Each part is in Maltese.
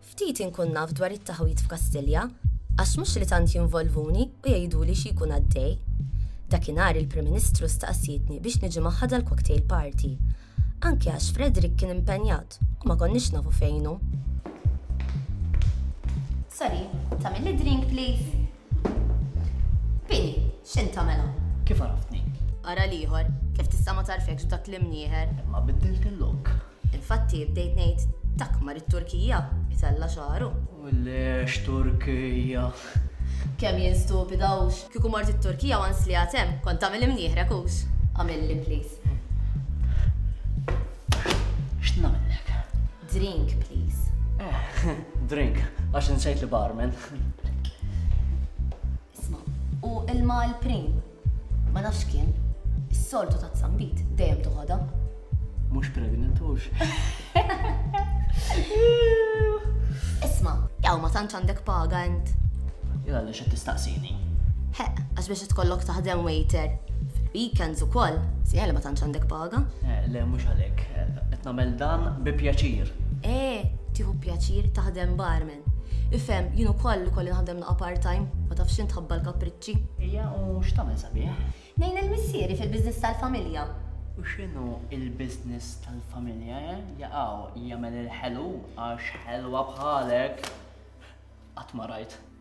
Ftit inkun naf dwar it-taħwid f'Kastilja, għax mhux li tant jinvolvuni u jgħiduli xi jkun għaddej. Dakinhar il-Prim Ministru staqsietni biex niġi magħha dal-cocktail party, anki għax Frederick kien impenjat u ma konniex nafu fejn hu. Sorry, tagħmilli drink please? Pini, x'int tagħmelha? Kif għaraftni? Ara l-ieħor, kif tista' ma tagħrfekx b'dak l-imnieħer? Imma biddilt il-lok. Infatti bdejt ngħid dak mar it-Turkija itella' xagħru. U le x'Turkija! Kemm jien stupida hux! Kieku mort it-Turkija once li għad hemm, kont tagħmel imnieħrek hux? Agħmilli please. X'nagħmellek? Drink, please. Eh, drink, għax insejt li barman. Isma, u ilma l-prim, ma nafx kien, is-soltu ta' zambit, dejjem toħodha. Mhux pregnant hux. Isma, jaw ma tantx għandek paga int. Jgħalli X'qed tistaqsini? He, għax biex itkollok taħdem waiter fil-weekends ukoll, siegħi li ma tantx għandek paga. Eh, le mhux għalhekk, qed nagħmel dan bi pjaċir. Eh, tieħu pjaċir taħdem barman. Ifhem, jien ukoll ukoll naħdem naqa' part-time, ma tafx int ħabba l-kapriċċi. Ija u x'tagħmel sabiħ? Nejn il-missieri fil-biżness tal-familja. U x'inhu il-biżness tal-familja, eh? Jaqaw, jagħmel il-ħelu għax ħelwa bħalek qatt ma rajt.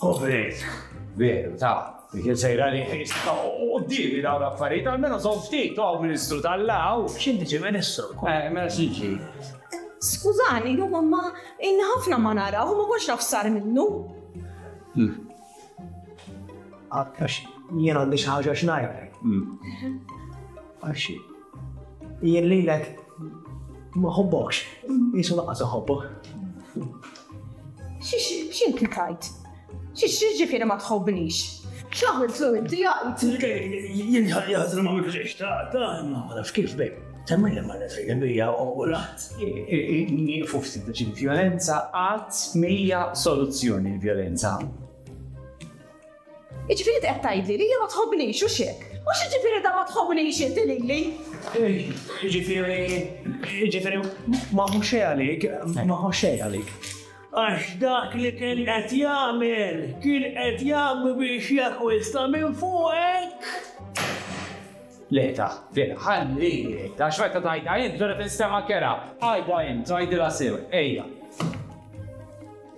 Kovrit. Veru, ta' Kien sejra li jista' u d-divi daw l-affarijiet, għalmenu son ftit għaw ministru tal-law. Xinti ġi ministru? Eh, mela xinti. Skużani, jom ma inna ħafna ma nara, u ma konx nafsar minnu. Hmm. Għakkax, jien għandi xaħġa xnajrek. Hmm. Għaxi. Jien lilek ma ħobbokx, jisu laqqas iħobbok. X'inti tajt? X'ġifieri ma tħobbnix? X'għamiltlu inti jgħid? Jien ħadd ma għamiltlu xejn xtaqt, ma nafx kif bejk. Temmejna ma nafx bija u laħt. Nieqfu ftit biex il-vjolenza qatt mhija soluzzjoni l-vjolenza. Jiġifieri inti qed tgħidli li hija ma tħobbnix, hux hekk? U x'jiġifieri dan ma tħobbnix inti lili? Jiġifieri, jiġifieri ma hu xejn għalik, ma hu xejn għalik. Għax dak li kien qed jagħmel, kien qed jagħmel biex jakkwista minn fuqek. Le ta, le, ħalli, ta xorta tajda int, ġara tinstema kera, ħajba int, tajdila sew, ejja.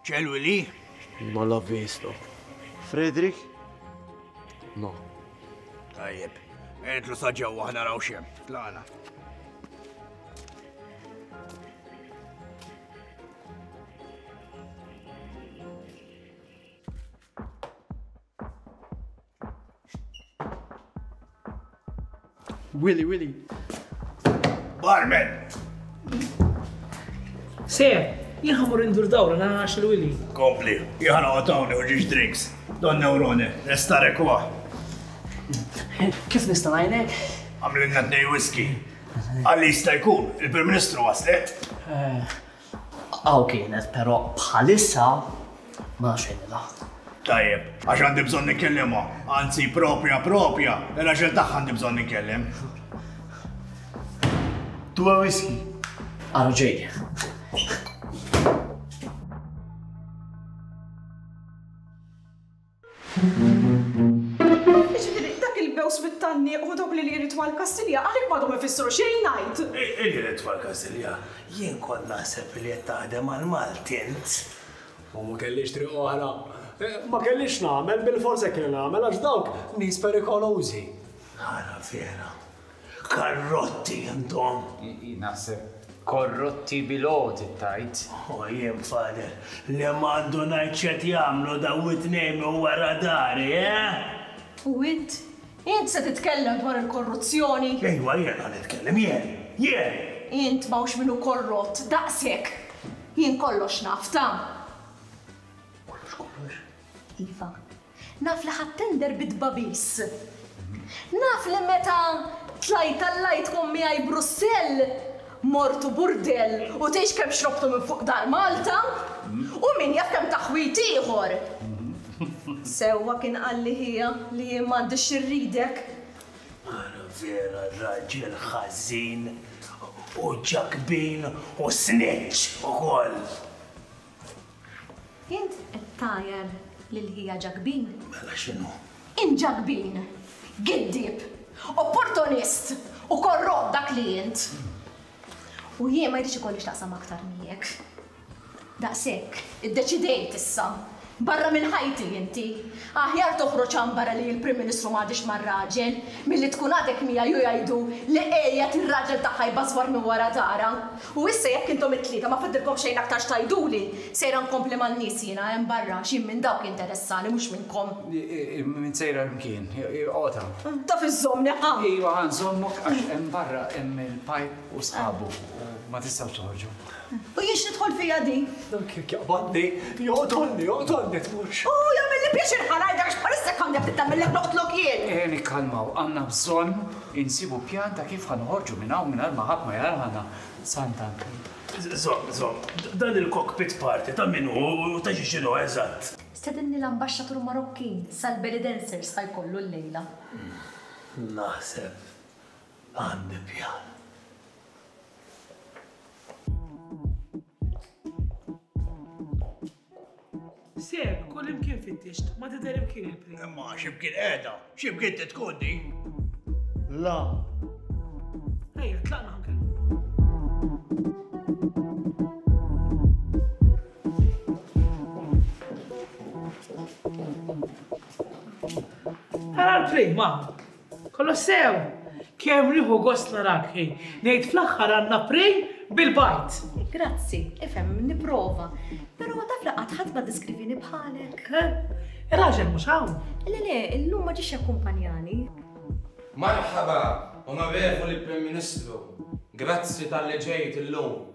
C'è lui lì? Non l'ho visto. Frederick? No. Tajjeb, entlu sa ġewwa ħna raw xem. Tlaqna. Willy, Willy. Barman! Se, jien ħamur indur dawra na għax il-Willy. Kompli, jħana għatawni u ġiġ drinks. Don neurone, restarek huwa. Kif nista' ngħinek? Għamlinna tnej whisky. Għalli jista' jkun, il-Prim Ministru waslet. Eh, Hawn kienet, però bħalissa ma nafx fejn ilha. Tajjeb, għax għandi bżonn nikkellimha, anzi propja propja, il-għaxel tagħha għandi bżonn nikkellem. Tuwa whisky. Għalu ġej. Jiġifieri, dak il-bews mit-tanniq u dawk li li jrid mal-Kastilja għalik m'għadhom ifissru xejn ngħid! Li jrid mal-Kastilja? Jien kont naħseb li qed taħdem għall-Malti int! U ma kellix triq oħra. Ma kellix x'nagħmel, bilfors hekk li nagħmel għax dawk nies perikolużi. Ara vera! Karrotti intom! Ihi, naħseb korrotti bil-għoti tgħid? O jien fader li m'għandu ngħid x'qed jagħmlu daw it-tnejn minn wara dari, eh? U int? Int se titkellem dwar il-korruzzjoni? Ejwa jiena nitkellem, jien! Jien! Int m'hawnx min hu korrott daqshekk! Jien kollox naf, ta! Kollox kollox? Iva. Naf li ħadt tender bi tbagħbis. Naf li meta tlajt għall-għidkom miegħi Brussell, mortu burdell u tgħix kemm xrobtu minn fuq dar Malta, u min jaf kemm taħwid ieħor. Sewwa kien qalli ħija li jien m'għandix xi rridek. Ara vera raġel ħażin u ġakbin u snitch ukoll. Int qed tgħajjar lil ħija Ġakbin? Mela x'inhu? Int Ġakbin! Giddieb! Opportunist! U korrott dak li int! U jien ma jridx ikolli x'naqsam aktar miegħek. Daqshekk, iddeċidejt issa. Barra minn ħajti inti! Aħjar toħroġ għanbara li l-Prim Ministru m'għadhiex mar-raġel, milli tkun għadek miegħi u jgħidu li qiegħed ir-raġel tagħha jbażwar minn wara dara. U issa jekk intom it-tlieta ma fadlilkom xejn aktar x'tgħiduli, sejra nkompli man-nies jiena hemm barra għax jien minn dawk interessani mhux minnkom. Min sejra imkien? Qota. Taf iżżommni ħa? Iva ħa nżommok għax hemm barra hemm il-pipe u sħabu u ma tistgħux toħorġu. U jien x'tidħol fija din? Dan kien jaqbadni, joqtolni, joqtolni tmux. U jagħmilli pjaċir ħanajdak x'bħalissa kondja bdiet tagħmillek noqtlok jien. Eh, nikkalmaw, għandna bżonn insibu pjan ta' kif ħanoħorġu minn hawn mingħajr ma ħadd ma jarana. Sant'Anki. Żomm, żomm, dan il-cockpit party ta' min hu u ta' xiex inhu eżatt? Stedinni l-ambaxxatur Marokkin sal-belly dancers ħa jkollu llejla. Naħseb għandi pjan. Seb, kull imkien fittixt, ma tidher imkien il-pri. Imma ximkien qiegħda, ximkien titkun di. La. Ejja, tlaqna ħankel. Għal-pri, ma. Kolossew, kemm nieħu gost narak, ħej. Ngħid fl-aħħar għandna prej bil-bajt. Grazzi, ifhem, nipprova. Però taf li qatt ħadd ma diskrivini bħalek. Raġel mhux hawn. Le le, illum ma ġiex jakkumpanjani. Marħaba, Onorevoli Prim Ministru. Grazzi tal-li ġejt illum.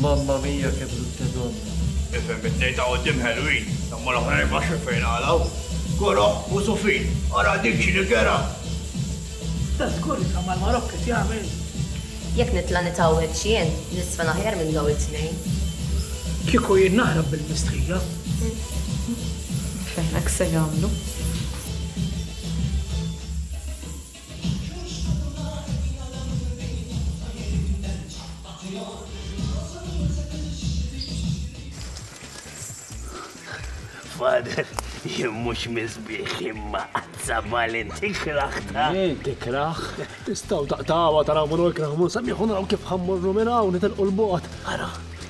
Mamma mia che brutte donne. Ifhem it-tnejn ta' quddiem ħelwin, imma l-oħrajn ma x'fejn qalgħu. Koroh u Sufin, ara dik x'inhi kerha! Sta żgur li Samar Marokk qed jagħmel? Jekk nitla' nitgħawweġ jien, niżfen aħjar minn dawn it-tnejn. Kieku jien naħrab bil-mistħija. Nifehmek se jagħmlu. Father, jien mhux miżbieħ imma qazza valent tikrah ta'. Jien tikrah. Tistgħu taqtgħuha taraw minn hu jkrah mhu nsemmih u naraw kif ħammorru minn hawn nitilqu l-bogħod. Ara,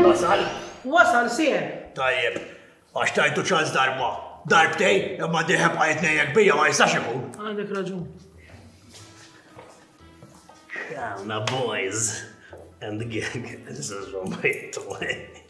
Wasal? Wasal, sir. Tajjeb, għax tajtu ċans darba. Darbtej, imma diħeb għajt nejjek bija ma jistax ikun. Għandek raġun. Kawna boys and the gang. This is what my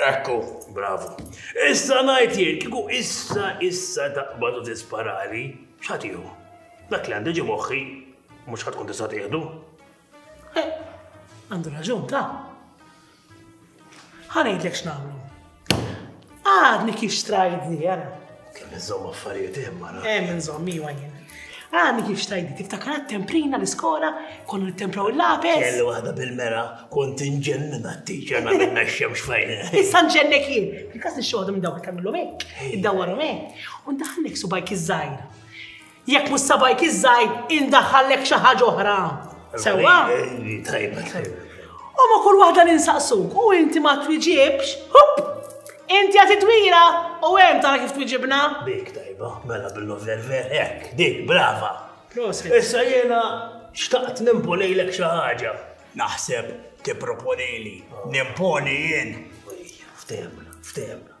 Ekku, bravu. Issa ngħid jien, kieku issa issa taqbad u tisparali, x'ħatiħu? Dak li għandi ġi moħħi, mhux ħatkun tista' tieħdu. Eh, għandu raġun ta' ħanejtlek x'nagħmlu. Għadni kif strajdni, għara. Nżomm affarijiet hemm mara. Hemm nżomm iwa jien. Għani kif xtajdi, tiftakar temprina l-iskola, konnu tempraw il-lapes. Kelli waħda bil-mera, kont inġennina t-tiċer ma minna xemx fajna. Issa nġennek jien, il-kas nixxoħdu minn dawk tamillom hekk, id-dawwarom hekk, u ndaħnek subajk iż-żajr. Jekk mhux sabajk iż-żgħir indaħħallek xi ħaġa oħra. Sewwa? Tajba, tajba. U ma kull waħda ninsaqsuk u inti ma twiġibx, hup! Inti għati twira u hemm tara kif twiġibna. Dik tajba, mela billu verver hekk, dik brava. Issa jiena xtaqt nimponejlek xi ħaġa. Naħseb tipproponili, nimponi jien. Ftehemna, ftehemna.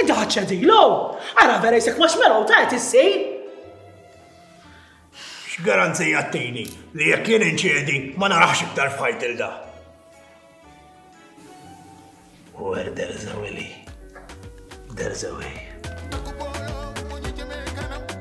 Inti ħadd ċedilu? Ara vera jisek marshmallow ta' qed issir. X'garanzija ttini li jekk jien inċedi ma narax iktar f'ħajt il da. Where there is a willy, there is a way.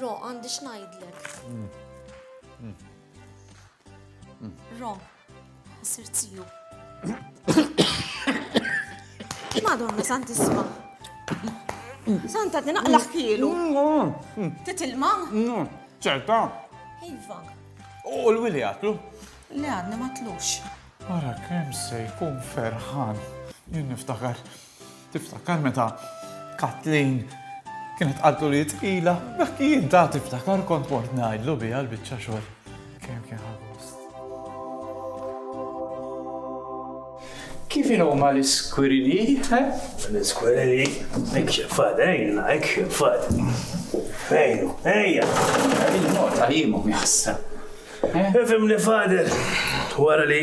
Ro, għandi xnajdlek. Ro, sir tiju. Madonna, sant isma. Santa, tinaqlaħ kielu. Titilma? ċerta. Iva. U l-wili għatlu? Le għadni ma tlux. Wara kemm se jkun ferħan. Jien niftakar Tiftakar meta Kathleen kienet qaltlu li hi tqila? Dak jien ta' tiftakar kont mort ngħidlu biha l-biċċa xogħol. Kemm kien ħa gost. Kif inhuma l-iskwirini? L-iskwirini? Hekk xefat, ejna, hekk xefat. Fejnu, ejja. Il-mod tal-jimu jħassa. Ifimni fader, wara li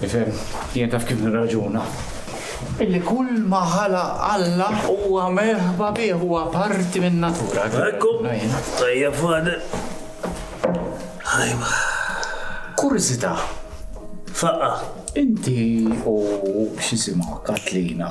Tifhem, jien taf kif nirraġuna. Illi kull ma ħala Alla huwa merħba bih, huwa parti minn natura. Ekku, tajja fade. Ħajma. Kurzita. Faqqa. Inti u xisimu Katlina.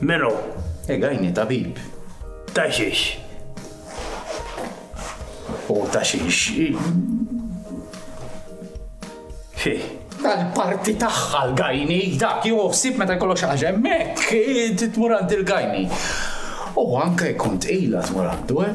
Melo, egajni tabib. Ta' xiex? U ta' xiex? Fih tal-parti tagħha l-gajni, dak jew ħsieb meta jkollok xi ħaġa hemmhekk, titmur għand il-gajni. U anke jkun tqila tmur għandu, eh?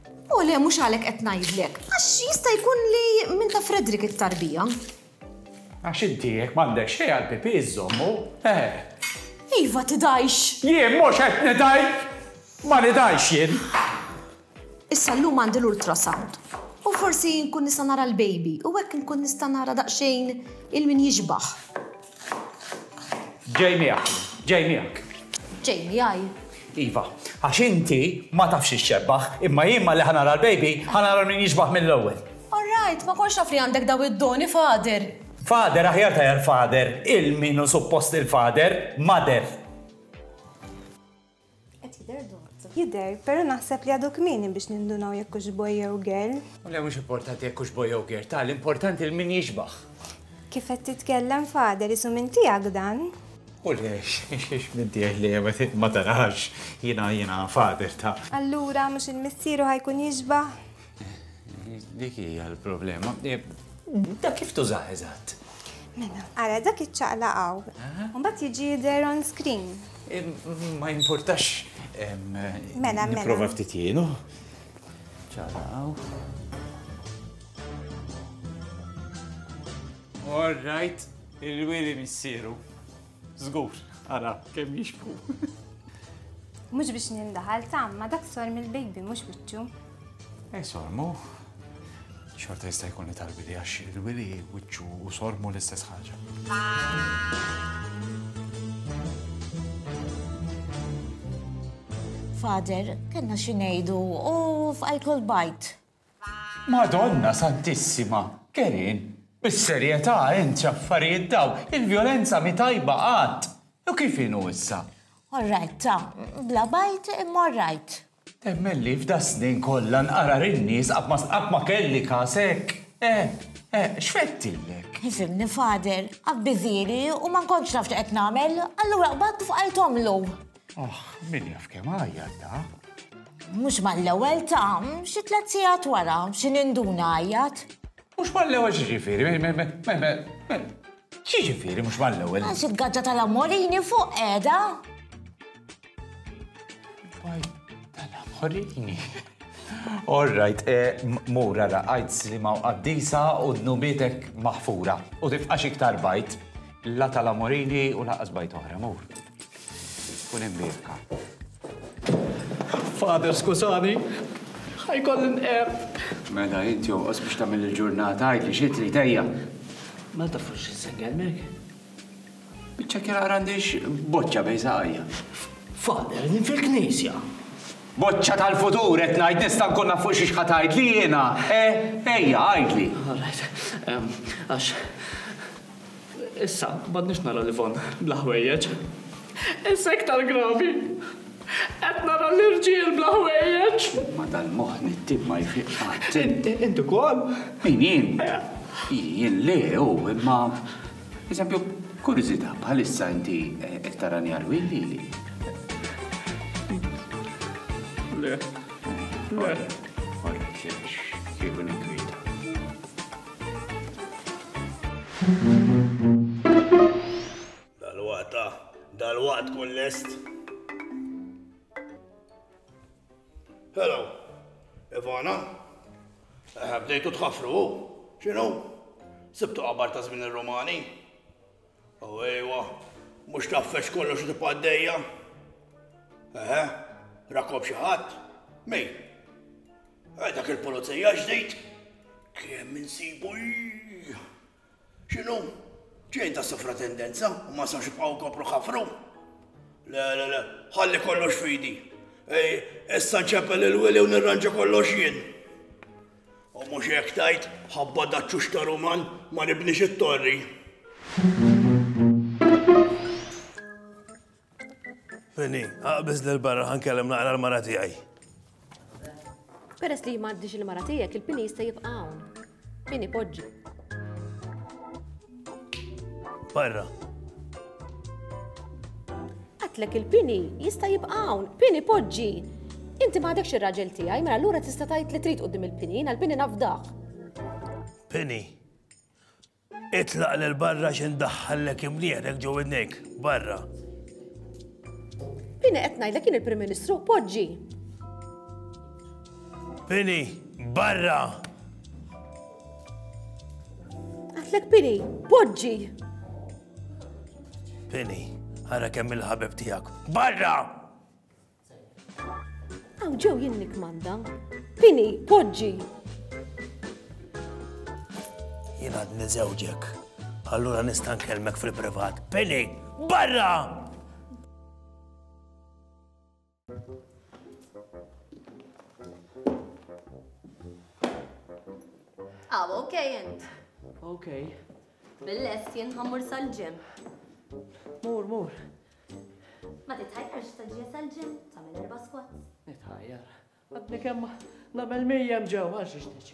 O le, mhux għalhekk qed ngħidlek. Għax jista' jkun li minn ta' Fredrik it-tarbija. Għax inti jekk m'għandek xejn għal pipi żommu, eh. Iva tidajx. Jien mhux qed nidaj. Ma nidajx jien. Issa llum għandi l-ultrasound. U forsi nkun nista' nara l-baby u hekk nkun nista' nara daqsxejn il-min jixbaħ. Ġej miegħek, ġej miegħek. Ġej miegħi. Iva, għax inti ma tafx ix-xebbaħ, imma jien ma li ħanara l-baby, ħanara min jiġbaħ mill-ewwel. All right, ma konx naf li għandek daw id-doni, Fader. Fader, aħjar tajar fader, il-minu suppost il-fader, mader. Qed jidher dott. Jidher, però naħseb li għadu kmieni biex nindunaw jekk hux boy jew girl. Le mhux importanti jekk hux boy jew girl, ta' l-importanti l-min jixbah. Kif qed titkellem father, isu minn tiegħek dan? U le, x'hiex minn tiegħi le, ma tarax, jiena, jiena father ta'. Allura mhux il-missier hu ħa jkun jixbah? Dik hija l-problema. Eh, da kif tużaħ eżatt? Mela, ara dak iċ-ċaqla għaw. Mbagħad jiġi jidher on screen. Eh, ma jimpurtax. Eh, mela, mela. Prova ftit jienu. Ċaqla għaw. All right, il-wili missiru. Żgur, ara kemm jixbħu. Mhux biex nindaħal tam ma dak sor mill-baby mhux wiċċu. Ej sormu, xorta jista' jkun li talbi li għax il-wili wiċċu u sormu l-istess ħaġa. Father, kellna xi ngħidu u f'alkohol bajt. Madonna Santissima! Kerien! Bis-serjetà int x'affarijiet dawn! Il-vjolenza mhi tajba qatt! U kif inhu issa? All right, ta. Bla bajt imma all right. Temmen li f'das-snin kollha nqara lin-nies qatt ma qatt ma kelli każ hekk! Eh! Eh! X'fettillek? Ifhimni Father, abbiżieli u ma nkontx naf x'qed nagħmel, allura qbadt fqajt omlu. Aħ, min jaf kemm għajjat da? Mhux mal-ewwel ta' xi tliet sigħat wara, xi ninduna għajjat. Mhux mal-ewwel xi ġifieri, xi ġifieri mhux mal-ewwel. Għax il-gaġġa tal-amorini fuq qiegħda. Tal-amorini. All right, eh, mura ra għajt slima u qaddisa u dnubitek maħfura u tifqax iktar bajt la tal-amorini u laqas bajt oħra, mur. Kun hemm birka. Father, skużani, ħajkolli nqer. Mela int jonqos biex tagħmel il-ġurnata għid li xi trid ejja. Ma tafux x'insenger mek? Biċċa kien għandix boċċa bejn saqajja. Father, din fil-knisja. Boċċa tal-futur qed ngħid nista' nkun naf fuq xi xħat għid li jiena, eh, ejja għidli. All right, għax Issa, m'għadniex naraw l-Yvonne bla ħwejjeġ. Issa iktar gravi. Qed nara l-irġiel bla ħwejjeġ. Ma dal-moħħ nittim ma jfiq qatt. Inti wkoll? Min jien? Jien le, u imma. Eżempju, kuriżità bħalissa inti eh, qed tara njar willi li. Le. Le. Ora, kieku nikwiet. Dal-waqta, dal-waqt kun lest. Hello, Ivana. Eh, bdejtu tħafru, xinu? Sibtu qabar ta' żmien ir-Rumani? Oh ejwa, mhux tafex kollox li tibqa' għaddejja? Eħe, rakob xi ħadd? Min? Eh, dak il-pulizija ġdid? Kemm insibu X'inhu? Ġejn ta' sofratendenza u ma sawx jibqgħu kopru ħafru? Le, le, le, ħalli kollox fidi. Ej, issa nċepel il-wili u nirranġa kollox jien. U mhux hekk tgħid, ħabba daċċux ta' ruman, ma nibnix it-torri. Penny, aqbiż lil barra ħankellem naqra l-mara tiegħi. Peress li m'għaddix il-mara tiegħek, il-pini jista' jibqa' hawn. Pini poġġi. Barra. Għatlek il-pini jista' jibqa' hawn, pini poġġi. Inti ma għadekx ir-raġel tiegħi, mela allura tista' tgħid li trid qudiem il-pini, jiena l-pini nafdaħ. Pini. Itlaq lil barra xi ndaħħallek imnieħnek ġew idnejk. Barra. Pini qed ngħidlek kien il-Prim Ministru poġġi. Pini, barra! Għatlek Pini, poġġi! Pini, ħara kemm il-ħabib tijak. Barra! Għaw ġew jien nikmanda. Pini, poġġi! Jien għad nizewġek. Allura nistan kelmek fil-privat. Pini, barra! Aw, ok int. Ok. Bil-lest jien ħammur sal-ġim. Mur, mur. Ma titħajjarx ta' ġie sal-ġim, tagħmel erba' squats. Nitħajjar. Għadni kemm nagħmel mirjem ġew għax ixtiġi.